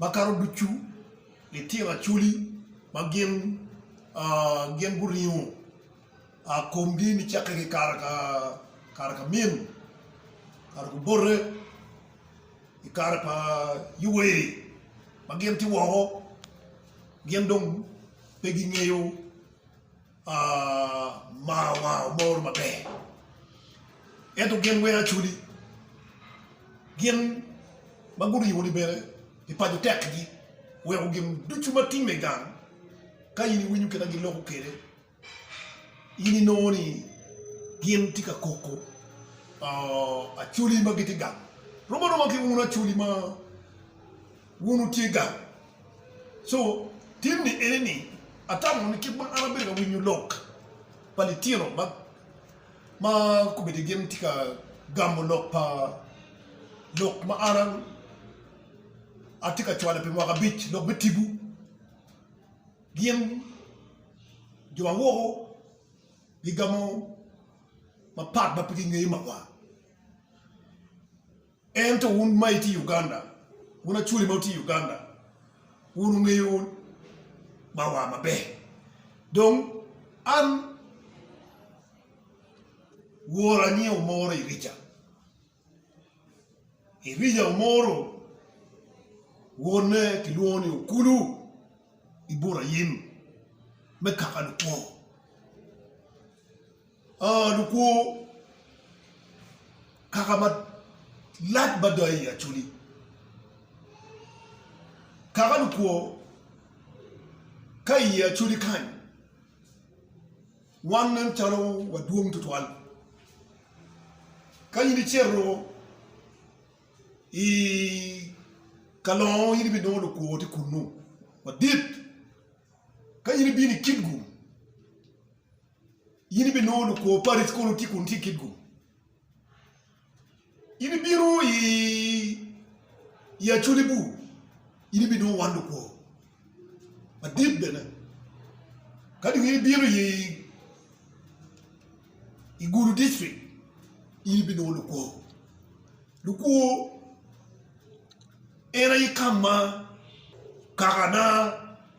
Makato ducu litino Acholi ma gin gin guringo komgi nicakke ki kare ka min kare kubote i kare pa Yoweri ma gin tye woko gin dong pe gingeyo Amarwa omoro maber, ento gin wene acoli. Gin ma guribo ni bene pi paco tekgi weko gin ducu ma timme i gang ka in iwinyo kit ma gin loko kwede in inongo ni gin tye ka koko acoli ma gitye gang. Rom aroma ki un acoli ma Wun wutye gang. So, tin ni ene ni atamo ni kit ma an abedo ka winyo lok pa litino ma ma kobedi gin tye ka gamo lok pa lok ma an atye ka cwale pi mwaka abic lok me tibu gin jo ma woko gigamo mapat ma pe gingeyo magwar. Ento wun ma itye i Uganda, wun Acholi ma wutye i Uganda, wun wungeyo ma wa maber. Dong an Wora anyieo omoro Irija, Irija omoro wonne kilwongo ni Okulu Iburayim me kaka Lupor. Oo lukwo kaka malac mada i Acholi, kaka lukwo ka i Acholi kany wan nen calo wadwong tutwal. Ka in icito i Kalongo in ibinongo lukwo tye kunnu madit, ka in ibino i Kitgum In ibinongo lukwo pari kono itye kun itye kit gum. In ibino i acoli bur, in ibinongo wan lukwo madit bene. Kadi in ibino i Gulu district, in ibinongo lukwo. Lukwo en aye ka ma Kakana.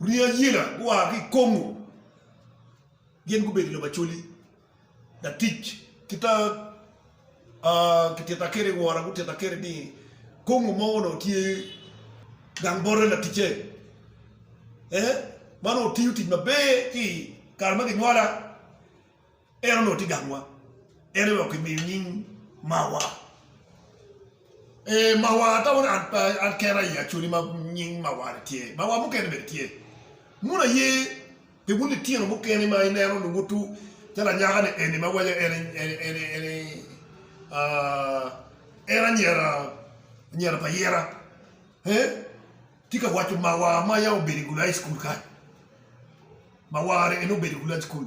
Rii ayela gua ki i Kongo gin gubedo jo macoli, latic ki ta kitita kwede wora gutita kwede ni Kongo mo onongo tye gang bote laticce ma onongo tiyo tic maber ki i kare ma ginywala. En onongo tye gangwa, en aye okimiyo nying Mawa. Ee, Mawa ata wun an pe, an kena aye acwali ma nying Mawa-ni tye. Mawa mukene bene tye. Wun aye pi wun litino mukene ma ineno luwutu calo anyaka-ni eni ma waco en, en, en, en, en anyira, anyira pa yira, ee, tye ka waco Mawa ma yam obedo i Gulai Cukul kany. Mawa-ni en obedo i Gulai Cukul.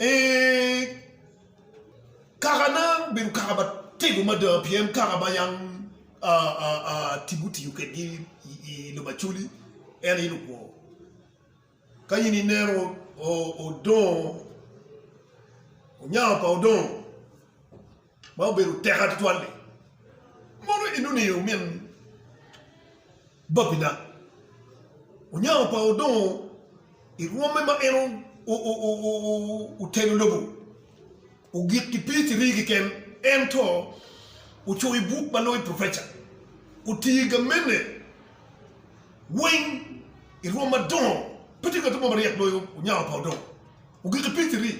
Ee, kakana obedo kaka matego mada pien kaka ma yam tipo otiyo kwedgi i lobo Acholi en aye lukwo. Ka in ineno odongo, onyango pa odongo. ma obedo teka tutwal-li, mono in oniyo omin babina? Onyango pa odongo i rwomme ma en oteno lobo ogik ki pii cirii keken, ento ocoyo buk ma loyo profeca, otiyo i gamene weng i rwom madongo. Pe tye ngat mo maryek loyo Onyango pa odongo ogik ki pii cirii.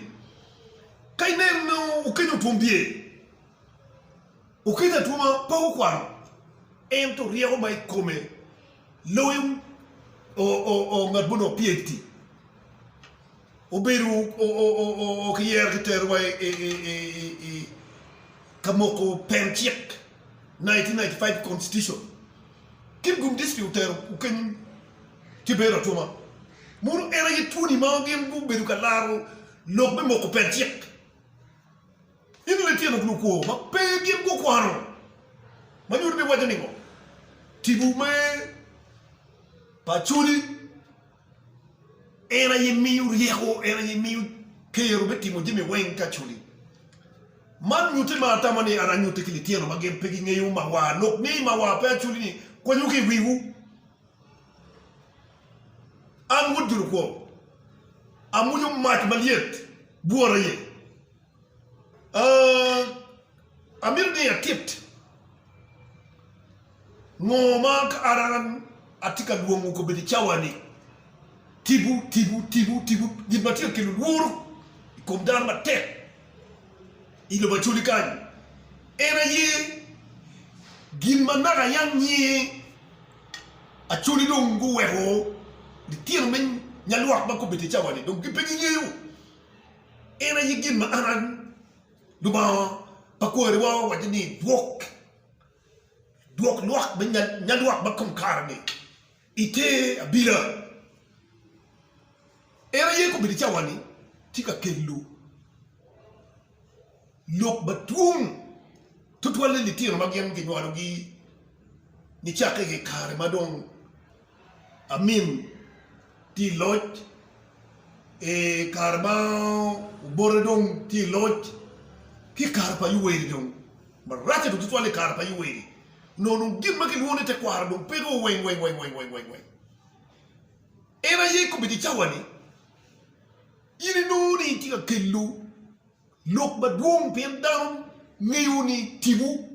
Ka ineno ni okenyo twom bye, okenyo atwoma pe okwano, ento ryeko ma i kome loyo ngat ma onongo PHD, obedo okiyero kitero wa i ka moko pen cik, nineteen ninety five constitution, kit gun district otero okeny ki bedo atwoma, mono en aye twoni ma gin gubedo ka laro Lok me moko pet cik. Ino litino ki lukwo ma pe gin gukwano ma nyuto ni waco ningo? Tibu me pa culi en aye miyo ryeko, en aye miyo kero me timo jami weng ka culi. Man nyuti ma atamo ni ara nyuti ki litino ma gin pe gingeyo mawa. Lok ni mawa pe aculi ni kwanyu ki i wiwu. An Wod Dul Kwong amwonyo mac malyet bwora iye. Amito ni atit ngo ma ka an atye ka lwongo kobedo i cawa-ni, tipo, tipo, tipo, tipo, gin ma tye ka kelo lworo i kom dano matek i lobo Acholi kany-ni en aye gin ma naka yam nyiye. Acoli dong guweko litino me nyalwak ma gubedo i cawa-ni dong gin pe gingeyo. En aye gin ma an Lubanga pa kwariwa owaco ni, Dwok nyalwak ma kom kare-ni i te abila. En aye gubedo i cawa-ni tye ka kelo. lok madwong tutwal ni litino ma gin kinywalogi nicakke i kare ma dong Amin tye i loc, i kare ma Obote dong tye i loc, ki i kare pa Yoweri dong. Maracce dong tutwal i kare pa Yoweri onongo dong gin ma kilwongo ni tekwaro dong peke o weng weng weng weng. En aye i kom i di cawa-ni In inongo ni itye ka kelo lok madwong pien dano ngeyo ni tipo.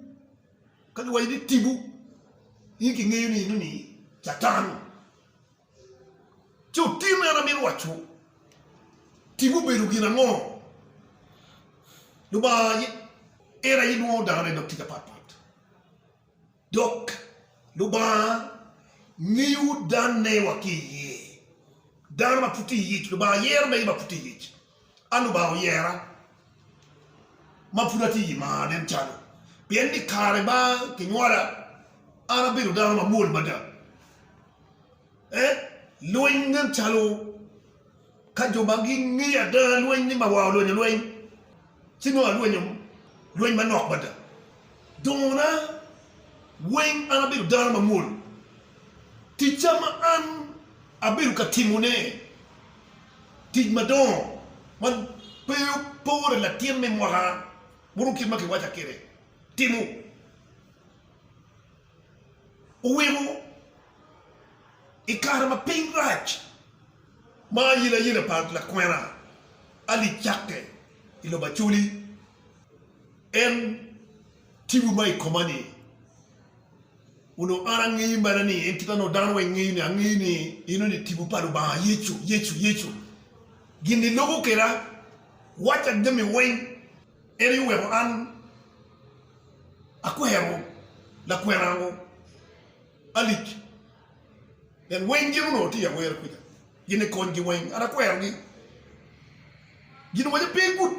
Ka giwaco ni tipo, in kingeyo ni eno ni Catan. Ci otinne en amito waco, tipo obedo gin ango? Lubanga en aye nwoyo dano i dog tic apat pat. Dok Lubanga miyowu danne wa ki iye. Dano ma pud tye iyic, Lubanga yero mege ma pud tye iyic. An Lubanga oyera ma pud atye iyi mar nen calo, pien ni kare ma kinywala, an abedo dano mamwol mada. Lweny nen calo ka jo ma gingeyo ada lweny ni mawa olwonyo lweny ci nongo alwonyo lweny manok mada. Dongona weng an abedo dano mamwol. Ticca ma an abedo ka timone tic madongo ma pe opore latin me mwaka buru kit ma kiwaca kwede timo. Oweko i kare ma piny rac ma ayelayela pa lakwena Ali cakke i lobo Acholi, en tibu ma i koma ni, Onongo an angeyi mere ni in kit ma nongo dano weng ngeyi ni, angeyi ni in oni tibu pa Lubanga, Yecu, Yecu, Yecu. Gin ni logo kweda, wacca jami weng. En aye oweko an akwero lakwenango alic. Pien weng gin onongo tye i awere kuca, gin ni konygi weng. An akwerogi. Gin owaco pe igut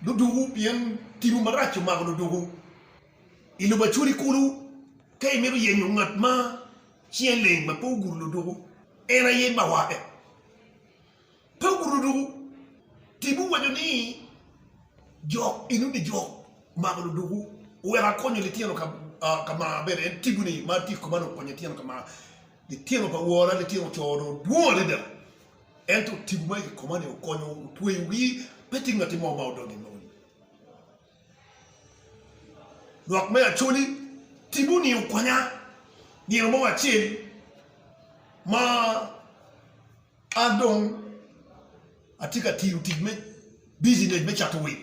ludwogo, pien timwu marac omako ludwogo i lobo Acuri kulu. Ka imito yenyo ngat ma cinge leng ma pe ogudo ludwogo, en aye bawae. Pe wurudu tic wuwaco ni, 'Jo enuni jo mako ludukwu, wek akonyo litino ka mar. Bene en tibu ni, 'Mar tye koma dong konyo litino ka mar. Litino pa wora, litino co dong dwong adada, ento tibu ma i koma ni okonyo otweyogi, pe tye ngatti mo ma odonyo i moni. Lwak me Acoli, Tibu ni okonya nino mo acel ma. An dong atye ka tiyo tic me bijinec me cato wil,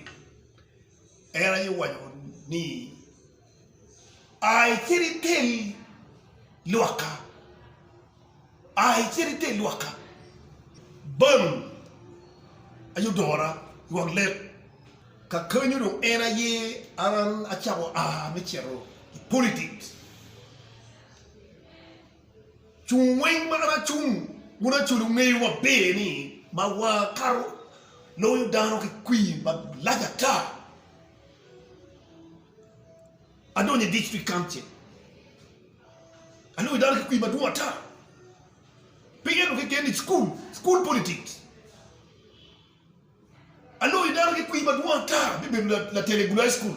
en aye owaco ni, 'A icit itel lwakka, a icit itel lwakka bang ayodora i wang lek. Kakenyo dong en aye an acako a me cito i politics. Cung weng ma an acung wun acoli wungeyo maber ni ma wakato loyo dano ki kwir malac ata. Adonyo i District Council aloyo dano ki kwir madwong ata. Pe ento keken ni cukul, school politics. Aloyo dano ki kwir madwong ata me bedo latel i Gulu High School.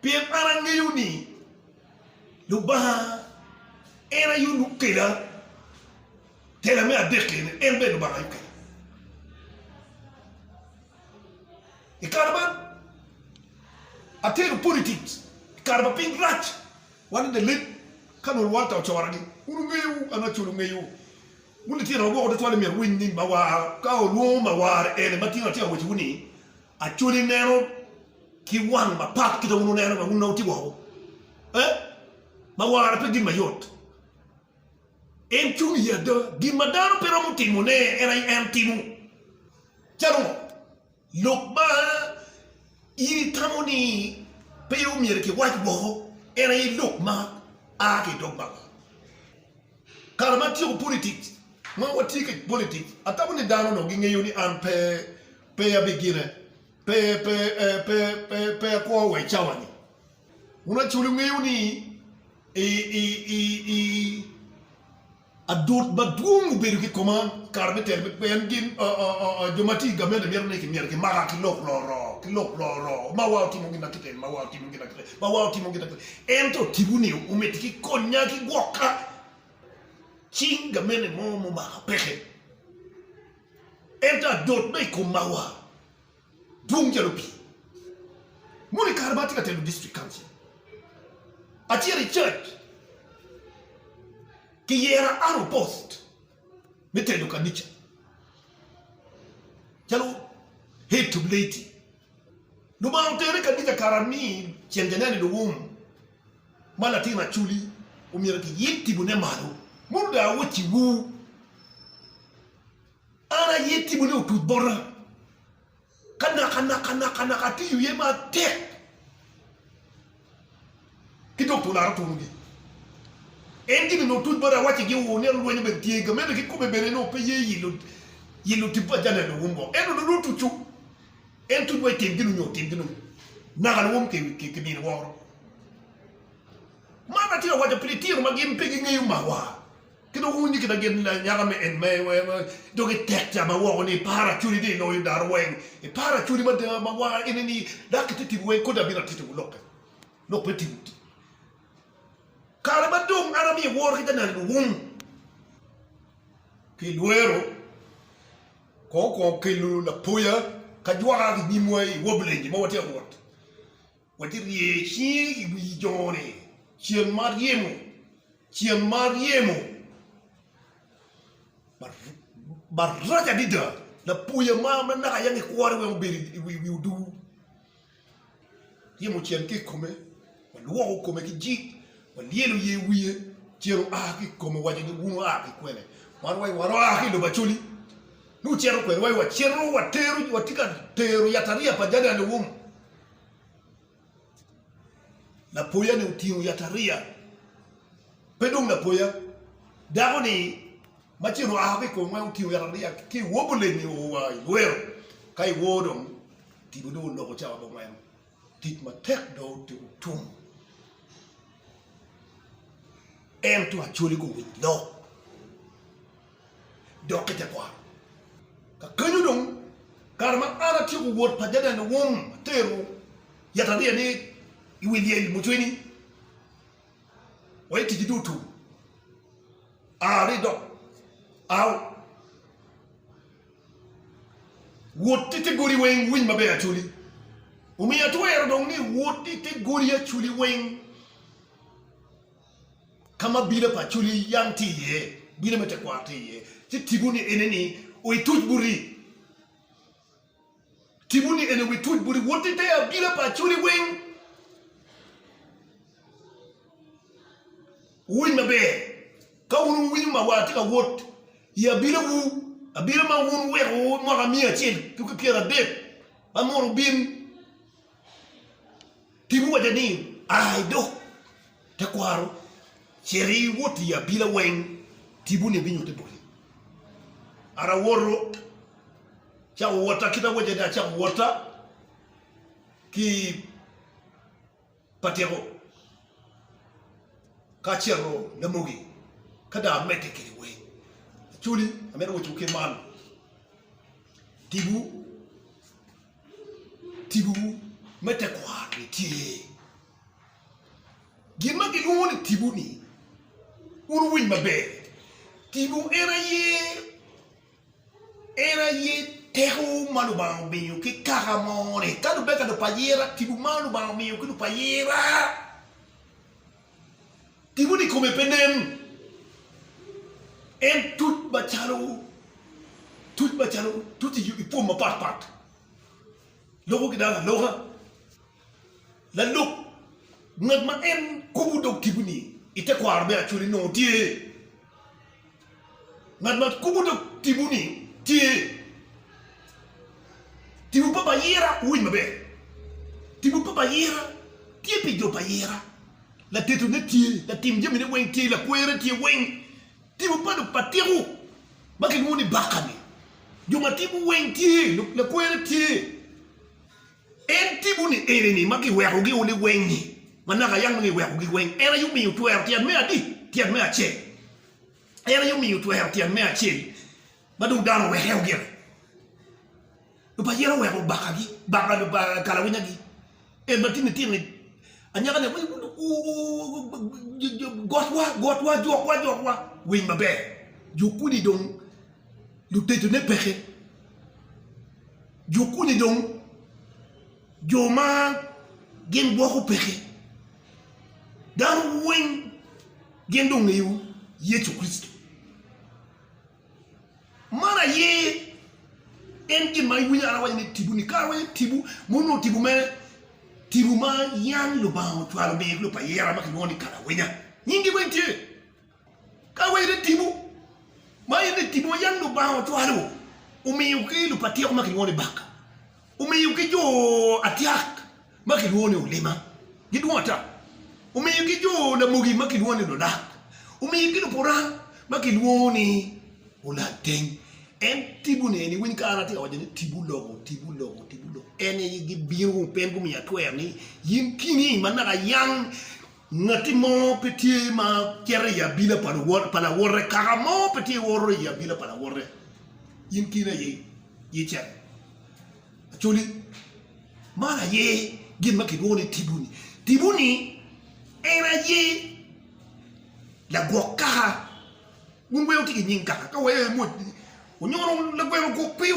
Pien an angeyo ni Lubanga en aye onongo okela, tela me adek eni, en bene Lubanga aye okela. I kare man, atero politik i kare ma piny rac, wan i Dalit, ka nongo Walter ocoragi, wun wungeyo, an Acol ongeyo, wun lityenana woko tutwal myero wuwiny ni Mawar ka olwongo Mawar ene ma tino atika owacowu ni, Acol ineno. ki wang mapat ki dong wun wuneno ma wun nongo wutye woko. Eh? Ma wara pe gin mayot. En cung i ada. Gin ma dano pe romo timone, en aye en timo. Calo ngo? Lok ma in itamo ni pe omyero kiwac woko, en aye lok ma a ki i dog Baba. Kare ma atyeko politics, ma watye ki politics, atamo ni dano onongo gingeyo ni an pe pe abigine. Pe, pe, pe, pe, pe, pe akwo wa i cawa-ni. Wun acoli wungeyo ni i, i, i, i, adot madwong obedo ki i koma kare me telo me pien gin, o, o, o, o, jo ma tye i gamente mito ni kimyero kimaka ki lok loro, ki lok loro, ma wa otimo gin ma kite, ma wa otimo gin ma kite, ma wa otimo gin ma kite. Ento tipo-ni omiti ki konya ki gwoka cing gamente mo mumaka peke. Ento adot ma i kom mawa dwong calo pii. Mono i kare ma atye ka telo District Council, acito i church kiyera an opost me telo kanica calo Head to Lady. Lubanga otera i kanica kara ami ceng janene luwum ma latin Acoli omyero kiyib timone malo. Mono dong awaciwu. An aye timo ni otuc bota, ka naka naka naka naka atiyo iye matek ki dok tula arutuno gi. En gin ni otuc bota awaci gi oo ni alwenyo bene tye ga mene ki kome bene ni ope ye yilo yilo tipo ajane a luwum go ento dong nongo tucu en tuc wa itim gin onyo otim gin onyo naka luwum ki ki mini woro man atye ka waco pi litino ma gin pe gi ngeyo mawa. Ki dong wunyo kit ma gin lanyaka me en me weko dog i tek ca ma woko ni, Par acudi ni iloyo dano weng. Ipar acudi mada ma war ene ni, Dak ite tipo weng kodi abino atito wu lokke, lok me tipo ti. Kare ma dong an amiyo woro ki janal luwum ki lwero kong okwongo kelo lapoya ka jwaka ki nyimwa i Woblenje ma watye ka wot. Wek irye cingi i wi jo-ni, cen ma ryemo, cen ma ryemo, marac adada, lapwoya ma naka yam ikwore weng obedo i wi oduu. Ryemo ocito ki i kome, walwoko kome ki jik, walyelo ye wiye, cen oa ki i kome owaco ni, 'Wun wua ki kwene? Wan wa wua ki i lobo Acholi, ci wucito kwedwa, watye ka tero yatariya pa jami alum. Lapoya ni otingo yatariya, pe dong lapoya, dako ni ma ci ru aa ki kom weko otingo yatariya ki i wor buleng ni oo wa i lwero ka i wor dong tibo dong oloko cawa bot weno tic matek dong otum ento acoli guwic lok. dok ki tekwaro. Kakenyo dong, kare ma an atyeko wot pa Jaden Wom, atero yatariya ni i wi lyel mucwini wa i ticci dutu. A ri dok a wot i te godi weng winy maber aculi. Omiyo atwero dong ni wot i te godi aculi weng. ka ma bino pa Acholi yam tye iye, bino me tekwaro tye iye, ci tibuni ene ni wituc buti, tibuni ene wituc buti, wot i te abila pa Acholi weng, wuwiny maber, ka wun wuwinyo ma wa atye ka wot i abilawu, abila ma wun wuweko mwaka miya acel ki pyera adek, ba mono wubin. Tibu wacca ni, Ai do, tekwaro, cit iwot i abila weng, tibu-ni binyutte boti. An awoto, cako wotta, kit awacca ni acako wotta ki patyeko ka acito Lamogi, ka dong amedde kede weng. Actually, amito wacciwu kit man, tibu tibuwu me tekwaro-ni tye. Gin ma gilwongo ni tibu-ni, wun wuwiny maber, tibu en aye en aye teko ma Lubanga omiyo ki kaka mo-ni. Ka lubbe ka lupayira, tibu ma Lubanga omiyo ki lupayira. Gin mogo i kome pe nen. En tuc macalo tuc macalo tuc i pwom mapat pat. Loko ki dano aloka. Lalub ngat ma en kubo dog tipo-ni i tekwaro me Acholi nongo tye. Ngat ma kubo dog tipo ni tye tipo pa ayira, wuwinj maber, tipo pa ayira tye pi jo pa ayira, latetone tye, latim jamine weng tye, lakwere tye weng, tipo pa dog pa tiko ma kilwongo ni baka ni jo ma tipo weng tye, lakwere tye, en tipo ni eni ni ma kiweko gi o liweng ni ma naka yam nongo iweko gi weng en aye omiyo twero tyet me adi? Tyet me acel. En aye omiyo otwero tyen me acel ma dong dano oweke o gire. Luba yen oweko obakagi, kalawinyagi, en ma tinni tinni anyaka ne gotwa gotwa jokwa jokwa winy maber jo kuni dong luteco ne peke jo kuni dong jo ma gin gwoko peke. Dano weng gin dong ongeyo Yecu Kricito. Man aye en gin ma iwinyo an awaco ni tibu ni. Kara awaco tibu ma onongo tibu me tibu ma yam Lubanga ocwalo me lub pa yera ma kilwongo ni kalawinya. Nyingi weng tye. Ka wa in i tipo, ma in i tipo ma yam Lubanga ocwalo, omiyo ki lupatiko ma kilwongo ni Baka, omiyo ki jo atyak ma kilwongo ni Olima, gidwong ata, omiyo ki jo Lamogi ma kilwongo ni Lulak, omiyo ki Lupurang ma kilwongo ni Olateng. En tiponi eni, iwiny kare atye ka waco ni tipo loko, tipo loko, tipo loko, en aye gibino, pe gumiya twer ni in kini ma naka ayang. Ngati mo pe tye ma cito i abila pa lawote, kaka mo pe tye woto i abila pa lawote. In kine aye icen. Acholi, man aye gin ma kilwongo ni tipo-ni. Tipo-ni en aye lagwok kaka. Wun wee wuti ki nying kaka, ka wee imwod ni, Onyono lagweno ogwok pio.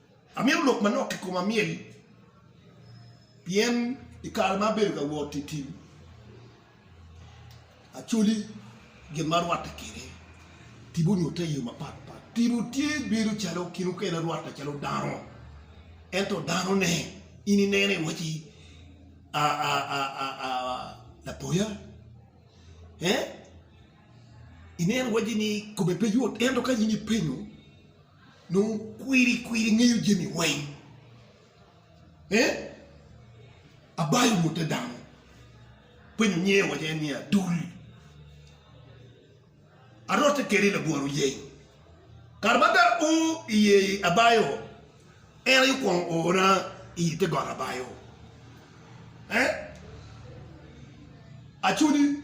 Amito lok manok i koma myel, pien i kare ma abedo ka wot i tim, acoli gin ma arwatte kwede tipo nyutte i yo mapat pat. Tipo tye bedo calo kin mukene arwatte calo dano, ento danone in ineno iwaci lapoya, ineno iwaci ni kome pe yot ento ka in ipenyo. Nongo kwiri kwiri ingeyo jami weng eh abayo mute dano penyo nyinge waco en ni adul arote kede i labwor oyeng kare ma ada o iye abayo en aye okwongo oona i te got abayo eh acudi.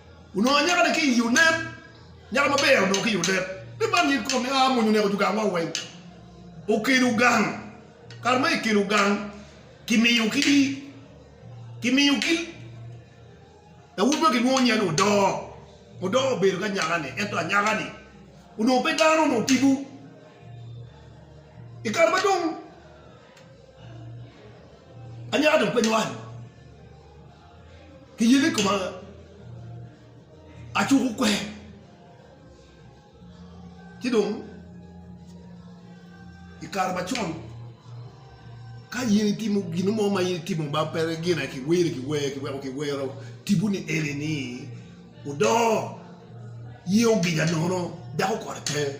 Onongo anyaka-ni ki i Yunen, nyaka maber onongo ki i Yunen, ni man nyig kom ni aa mony oneko jugangwa weng. Okelo gang, kare ma ekelo gang, kimiyo ki, kimiyo ki lawot ma gilwongo nyinge ni Odoo. Odoo obedo ki anyaka-ni, ento anyaka-ni onongo pe dano, onongo tipo. I kare ma dong anyaka dong pe nywal. Ki yeni koma acuko kwer, ci dong i kare macon ka in itimo gin mo ma in itimo ma pe gine ki weri ki wer ki weko ki wero tibu ni eni ni udoo, iye oginya nono dako kore pe.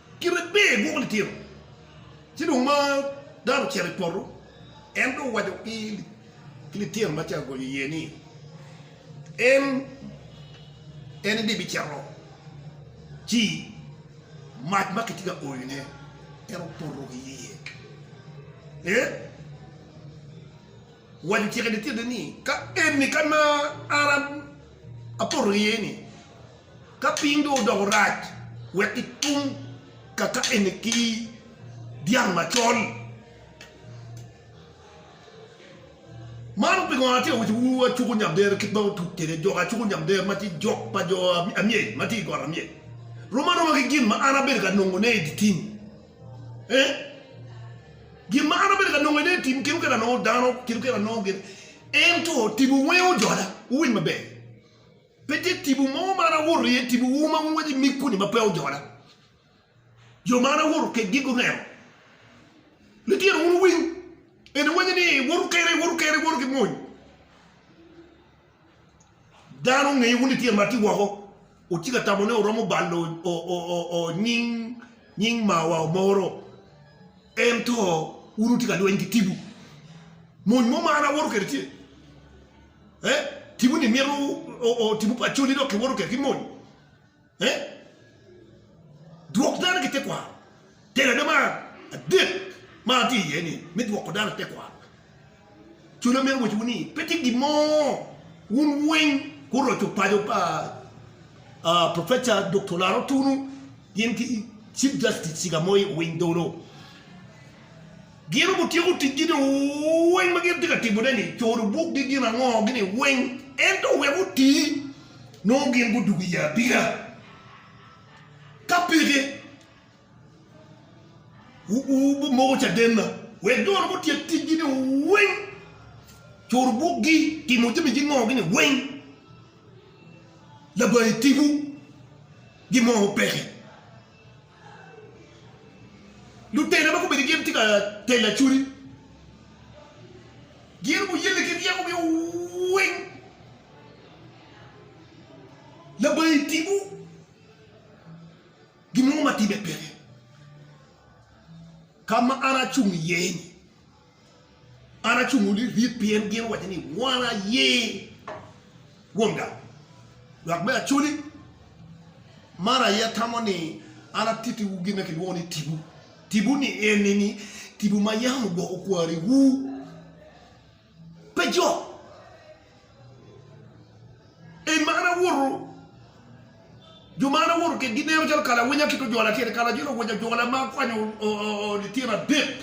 Kite ber i gwoko litino. Ci dong ma dano ocito i poto, en dong owaco ki litino ma tye ka gonyo iye ni, En, en ni bicito, ci mac ma kitye ka oyone en opoto ki iye. Ee, owaco ociko i litinone ni, Ka eni ka ma an apoto ki iye-ni, Ka piny dong odoko rac, wek itum kakakene ki dyang macol. Man pingo atye ka wacciwu acuku nyamdero kit ma otuc kwede jok acuku nyamdero ma tye jok pa jo amyel ma tye i got amyel. Rom aroma ki gin ma an abedo ka nongone i dye tim. Ee, gin ma an abedo ka nongo i dye tim kit kit anongo dano, kit kit anongo gin, ento tipo weng ojola. Wuwiny maber. Pe tye tipo mo ma an awoto iye, tipo wu ma wunwaco nyig kuni ma pe ojola. Jo ma an awoto kekgi guneno. Litino wun wuwiny, en iwaco ni, Woto kene, woto kene, woto ki mony. Dano ongeyo wun litino ma tye woko, wutye ka tamo ni wuromo balo nying mawa omoro, ento wun wutye ka lweny ki tipo. Mony mo ma an awoto kwede tye. Eh? Tipo ni mito o, tipo pa coli dok kiwoto kek ki mony. Eh? Dwok dano ki tekwaro. Telo ade mar adek ma atye iye ni me dwoko dano ki tekwaro. Cula mito waco ni pe tye gin mo wun weng kuroco paco pa uh, Professor Dr. Laro Tunu gin ki Chief Justice Cigamoy Owiny Dolo. Gin gutyeko ticgi ni weng ma gin tye ka timone-ni, coro bukgi gin ango gini weng, ento wek oti, nongo gin gudugo i abina. Ka peke, wubimoko cadenna wek jo-nu gutyek ticgi ni weng, coro bukgi, timo jami gin ango gini weng. Labangi tipo gin mo ma peke. Lutela ma gubedo gin tye ka telo acwali, gin guyelle ki ryekogi weng. Labangi timo gin mo ma timme peke ka ma an acung iye-ni. An acungo ni ryek pien gin owaco ni, Wan aye kwonga. Lwak me Acholi, Man aye atamo ni an atittiwu gin ma kilwongo ni tipo. Tipo ni eni ni tipo ma yam ogwoko kwariwu. Pe jo. En ma an awoto, jo ma an awoto kitgi neno calo kala awinya kit ojol atyeni, kala acel owinyo ajola ma akwanyo lityen adek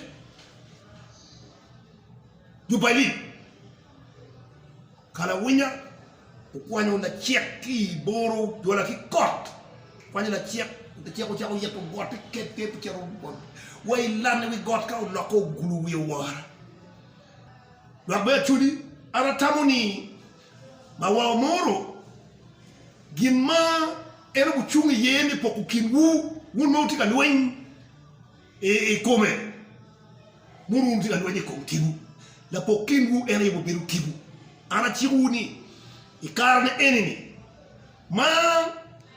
jubali, kala awinya okwanyo lacek ki i boro ojola ki kot, okwanyo lacek, lacek ocako ito got ti ket ker ocito wa i lan i wi got ka oloko ogulu wiye owora. Dok bene atwoli, an atamo ni ma wa omoro gin ma en ogucung iye me poko kinwu, wun ma wutye ka lweny i kome, mono wun wutye ka lweny i kom tipo. Lapok kinwu en aye bibedo tipo. An acikowu ni, i kare-ni eni-ni ma,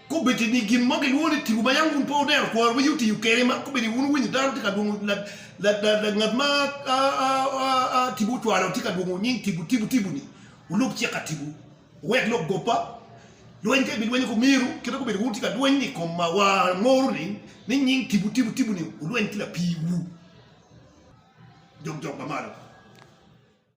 Kobeddi ni gin mo gilwongo ni tipo ma yam wun pe wudero kwaro ma yot tiyo kwede, ma kobeddi wun wuwinyo dano tye ka lwongo ngat ma tipo ocwalo tye ka lwongo nying tipo, tipo, tipo-ni, wulub cik ka tipo, wuwek lok goppa, lweny ka ibilwenyo ku myero kit ma kobeddi wun wutye ka lweny i kom mawa angoro-ni, ni nying tipo, tipo, tipo-ni, wulweny ki lapiwu, jok, jok ma malo.